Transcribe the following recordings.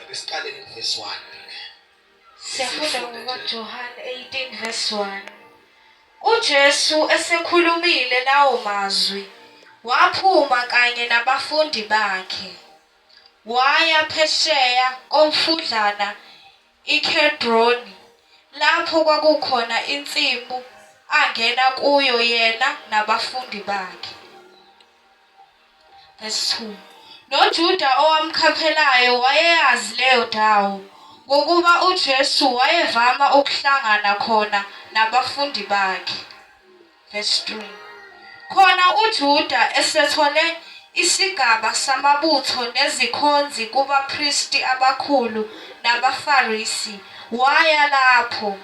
Ake siqale ngevesi 1. Siyafunda ngoJohane 18 verse 1. UJesu esekhulumile lawo mazwi waphuma kanye nabafundi bakhe waya phesheya komfudlana iKhedroni lapho kwakukhona insimu angena kuyo yena nabafundi bakhe. Verse 2. NoJuda owamkhaphelayo wayeyazi leyo ndawo ngokuba uJesu wayevama ukuhlangana khona nabafundi bakhe. Verse 3. Khona uJuda esethole isigaba samabutho nezikhonzi kubapristi abakhulu nabaFarisi waya lapho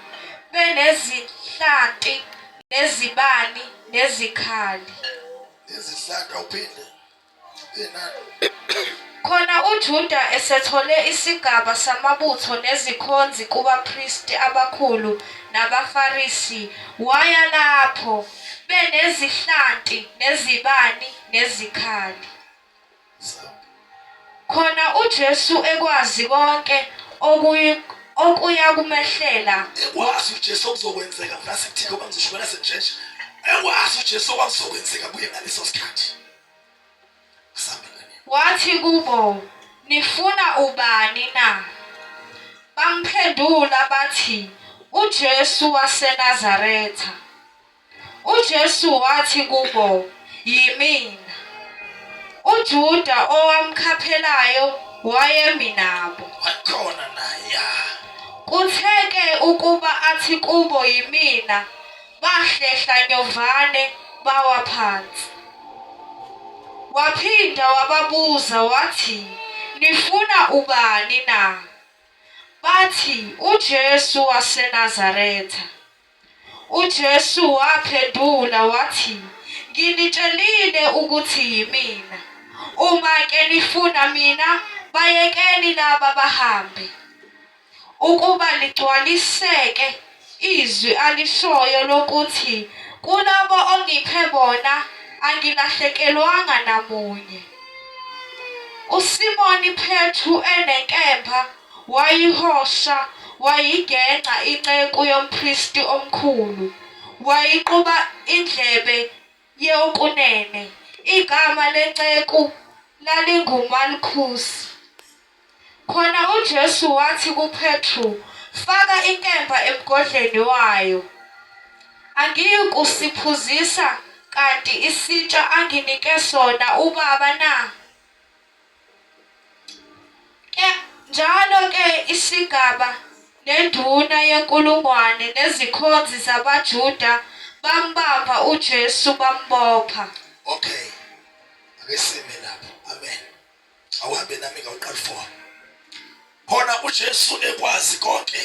benezinhlanti nezibani nezikhali. izihlaka uphinde khona uJuda esethole isigaba samabutho nezikhonzi kubapristi abakhulu nabaFarisi waya lapho benezihlanti nezibani nezikhali khona uJesu ekwazi konke okuyi okuya kumehlela ekwazi uJesu okuzokwenzeka ngase kuthike obangizishubela senjenje ekwazi uJesu okuzokwenzeka kuye ngaleso sikhathi wathi kubo nifuna ubani na bamphendula bathi uJesu waseNazaretha UJesu wathi kubo, Yimina. UJuda owamkhaphelayo wayemi nabo. Wakhona naye. Kutheke ukuba athi kubo yimina, bahlehla nyovane bawa phansi. Waphinda wababuza wathi, Nifuna ubani na? Bathi, UJesu waseNazaretha. UJesu waphendula wathi, Nginitshelile ukuthi yimina. Uma ke nifuna mina, bayekeni laba bahambe. Ukuba ligcwaliseke izwi alishoyo lokuthi kulabo ongiphe bona angilahlekelwanga namunye. USimoni Phetru enenkemba Wayihosha, wayigeqa inceku yompristi omkhulu, wayiquba indlebe yeokunene. Igama lenceku lalinguMalkhusi. Khona uJesu wathi kuPetru, Faka inkemba emgodleni wayo. Angiyikusiphuzisa kanti isitsha anginike sona uBaba na? Njalo-ke isigaba nenduna yenkulungwane nezikhonzi zabaJuda bambamba uJesu bambopha. Okay. Ake sime lapho. Amen. Awuhambe nami ngawuqala for. Khona uJesu ekwazi konke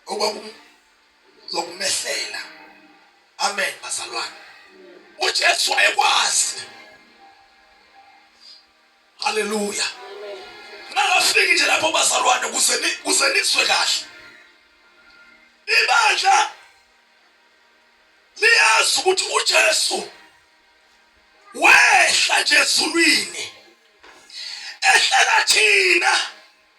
okwakum zokumehlela amen bazalwane uJesu wayekwazi haleluya nangafiki nje lapho bazalwane kuze kuze niswe kahle ibandla liyazi ukuthi uJesu wehla nje ezulwini ehlela thina